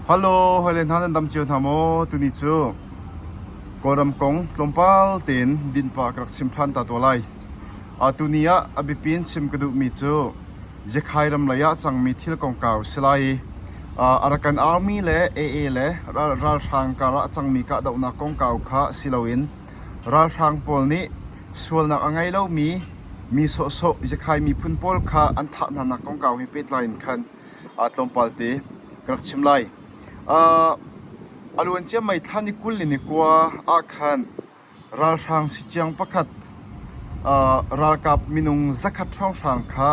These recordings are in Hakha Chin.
Halo hawile hna nan dam cio hna maw? Tuni cu Kawlram kong tlawmpal tein dinpa ka rak chim ṭhan ta tuah lai. Tuni ah a biapi in chim ka duhmi cu Yekhai ram lei ah cangmi thil kongkau si lai i Arakan Army le AA le ralhrang kar ah a cangmi kahdohnak kongkau kha si loin ralhrang pawl nih sualnak a ngei lomi Mi sawhsawh Ziakhai miphun pawl kha an thah hnanak kongkau he pehtlai in khan tlawmpal te ka rak chim lai. A luan ciammai thlan i kul in i kua ah khan ralhrang siciang pakhat, ralkap minung zakhat hrawnghrang kha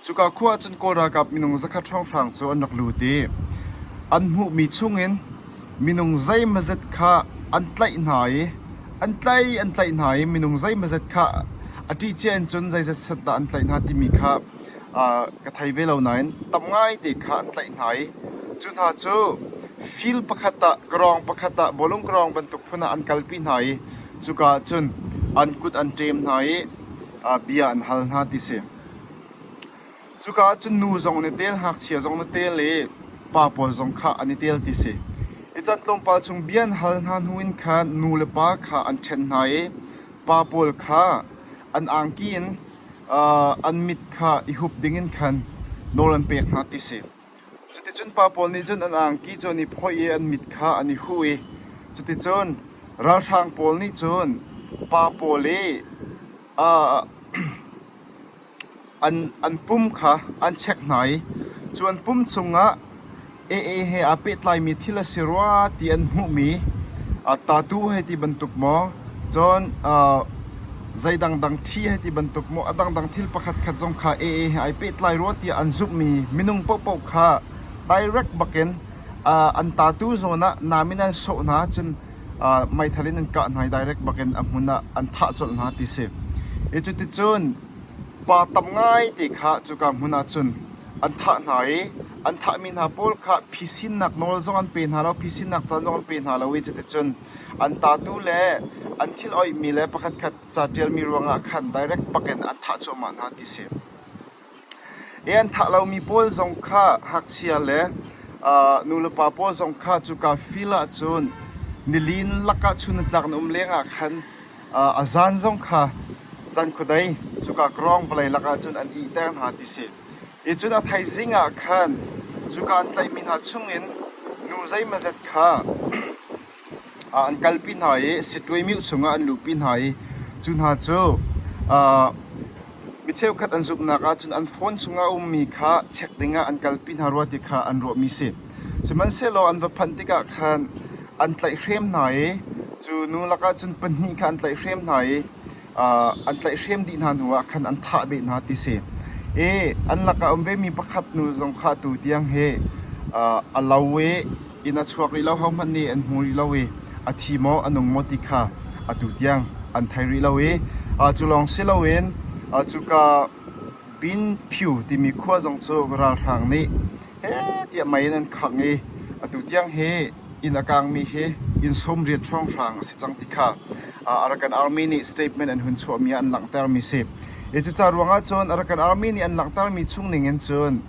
Cuka khua ah cun Kawl ralkap minung zakhat hrawnghrang cu an rak lut i an hmuhmi chungin minung zeimazet kha an tlaih hna i an tlaih an tlaih hna i minung zeimazet kha a ṭihcia in cun zeizat set dah an tlaih hna timi kha ka thei ve lo nain tam ngaite kha an tlaih hna i cu hna cu fil pakhat ah karawng pakhat ah bawlung karawng bantuk phun ah an kalpi hna i cuka ah cun an kut an ṭem hna i bia an hal hna ti si. Cuka ahcun nu zong an i tel, ngakchia zong an i tel i pa pawl zong kha an i tel ti a si. I can tlawmpal chung bia an hal hna hnu in khan nu le pa kha an ṭhen hna i pa pawl kha an angki in aa, an mit kha i hup ding in khan nawl an pek hna ti a si. Cuticun pa pawl nih cun an angki cu an i phoih i an mit kha an i huh i cuticun ralhrang pawl nih cun pa pawl i An pum kha an chek hna i cu an pum cungah ee he aa pehtlaimi thil a si rua ti an hmuhmi tattoo hei ti bantuk maw, cun zei dangdang ṭhi hei ti bantuk maw, a dangdang thil pakhatkhat zong kha ee he ai pehtlai rua tiah an zumhmi minung paohpaoh kha direct bakin an tattoo zawn ah nam in an sawh hna. Cun meithal in an kah hna i direct bakin a hmun ah an thah colh hna ti si. I cuticun pa tam ngaite kha cuka hmun ah cun an thah hna i an thahmi hna pawl kha phisinnak nawl zong an pe hna lo, phisinnak caan zong an pe hna lo i cuticun an tatu le an thil oihmi le pakhatkhat ca ṭialmi ruangah khan direct bakin an thah cuahmah hna ti si. I an thah lomi pawl zong kha hngakchia le nulepa pawl zong kha cuka fil ahcun nili in lakah chunhnak na um lengah khan a zan zong kha cankhuadei cuka krawng vawlei lakah cun an ihter hna ti si. I cun a thaizing ah khan cuka an tlaihmi hna chungin nu zeimazet kha an kalpi hna i sitṭuaimiu chungah an luhpi hna i cu hna cu Mi cheukhat an zumhnak ahcun an phone chungah a ummi kha check dingah an kalpi hna rua ti kha an ruahmi a si. Sihmanhsehlaw an va phanh tikah khan an tlaihhrem hna i cu nu lakah cun pahnih kha an tlaihhrem hna i an tlaihhrem dih hna hnuah khan an thah beh hna ti a si. I an lakah a um vemi pakhat nu zong kha atu tiang hi a lo i Inn a chuak rih lo hohmanh nih an hmu rih lo i a thi maw, a nung maw ti kha atu tiang an thei rih lo i cu lawng si loin cuka Bin Phyu timi khua zong cu ralhrang nih heh tiah mei in an khangh i atu tiang hi inn a kaangmi hi inn sawmriat hrawng hrang a si cang ti kha Arakan Army nih statement an hun chuahmi ah an langhtermi si i cucaah ruangah cun Arakan Army nih an langhtermi chung ning in cun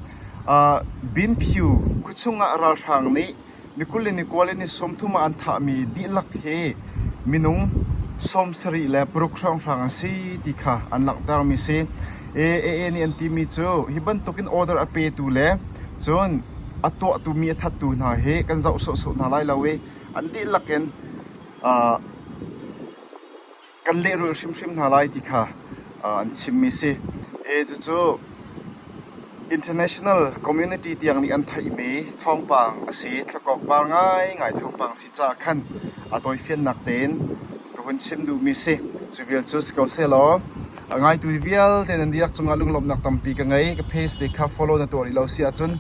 Binphyu khuachung ah ralhrang nih nikul le nikual in ni sawmthum ah an thahmi dihlak hi minung sawm sarih le paruk hrawnghrang an si ti kha an langhtermi a si. AA nih an timi cu hi bantukin order a petu le cun a tuahtu mi a thattu hna hi kan zoh sawhsawh hna lai lo i an dihlak in kan lehrulh hrimhrim hna lai ti kha an chimmi a si. Cucu International community tiang nih an theihmi thawngpang a si. Thluakawkpar ngaingai thawngpang a si caah khan a tawifiannak tein ka hun chim duhmi a si. Cu vial cu si ko sehlaw, a ngaitu vialte nan dihlak cungah lunglawmhnak tampi ka ngei. Ka page te kha follow na tuah rih lo si ahcun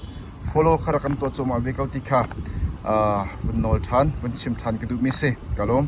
follow kha rak kan tuah cuahmah ve ko ti kha uh, vun nawl ṭhan, vun chim ṭhan ka duhmi a si. Ka lawm.